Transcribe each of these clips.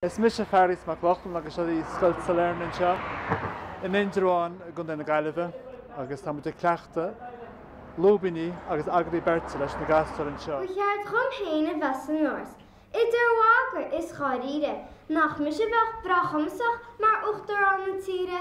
Is mise Fearghas Mac Lochlainn agus seo í Scoil Sailearna anseo in Indreabhán i gContae na Gaillimhe agus tá muid ag cleachtadh lúibíní agus agallaimh beirte leis na gasúir anseo. Ba cheart dhom fhéin a bheith san Áras, idir mhagadh is dháiríre, nach mise a bheadh breá cumasach mar Uachtarán na tíre,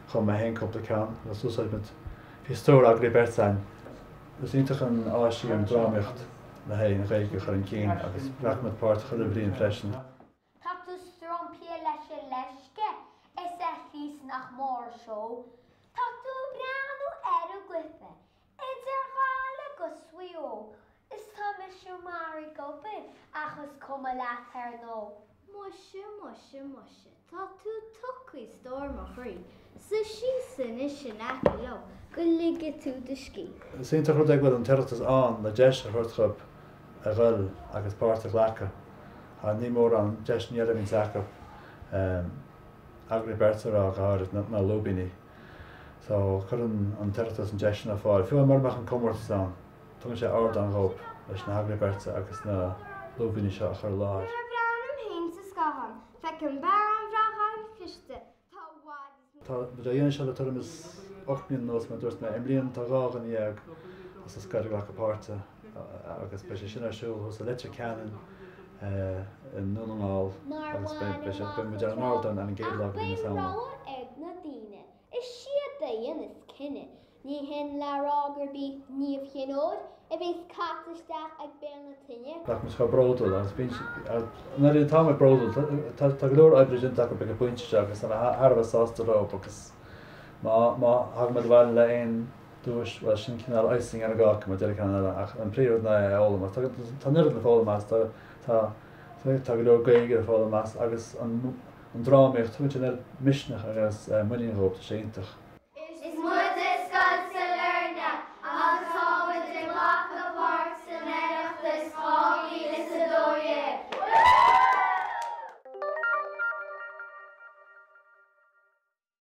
Chum mé fhéin cúpla ceann agus d'úsáid muid Bhí stór agallaimh beirte ann. Is iontach an áis í an drámaíocht le haghaidh an Ghaeilge a chur chun cinn agus ghlac muid páirt chuile bhliain freisin. Tá tú stromptha leis an leisce is a Chríost nach mór an seó. Tá tú ag breathnú ar an gcluiche Idir Ghaillimh agus Mhaigh Eo is tá mise maraithe ag obair ach is cuma leat ar ndóigh. Muise, muise, muise tá tú tugtha a stór mo chroí, suigh síos anois in aice liom go lige tú do scíth. Is iontach an rud é go bhfuil an tOireachtas ann le deis a thabhairt dhóib a ghoil agus páirt a ghlacadh ach ní mórán deiseanna eile a bhíonns acu, agallaimh beirte a rá go háirid, na lúibíní. So, cuireann an tOireachtas an deis sin ar fáil, fiú mura mbeadh an comórtas ann, tugann sé ardán dhóib leis na hagallaimh beirte agus na lúibíní seo a chur i láthair. Nuair a bhreathnaím fhéin sa scáthán, feicim fear an-bhreá an-chliste, tá i bhfad is níos. Tá muid á dhéanamh seo le tuairim is ocht mbliana anuas, mar a dúirt mé. I mbliana, tá dhá dhuine dhéag as an scoil ag glacadh páirte. agus beidh sé sin ar siúl thuas i Leitir Ceanainn i nDún na nGall agus beidh sé, beidh muid ar an ardán ar an gcéad lá de mhí na Samhna. Is iad a dhéanas cinneadh. Ní hin le rá gurb í Niamh Chinn Óir a bheas caite isteach ag béal na tine. Nach muid chomh bródúil agus bíonn siad, nuair atá muid bródúil, tá go leor oibre déanta acu ag an bpointe seo agus táimid thar a bheith sásta leo agus má thagann muid abhaile le aon duais, bhuel, sin cineál icing ar an gcáca, mar a deir an ceann eile, ach an príomhrud ná é a fhoghlaim. Ach tá an oiread le foghlaim as, tá, tá, tá, tá go leor Gaeilge le foghlaim as agus an, an drámaíocht, tugann sé an oiread misneach agus muinín dhóibh, tá sé iontach. Is muide Scoil Sailearna agus tá muid ag glacadh páirt san Oireachtas 2012!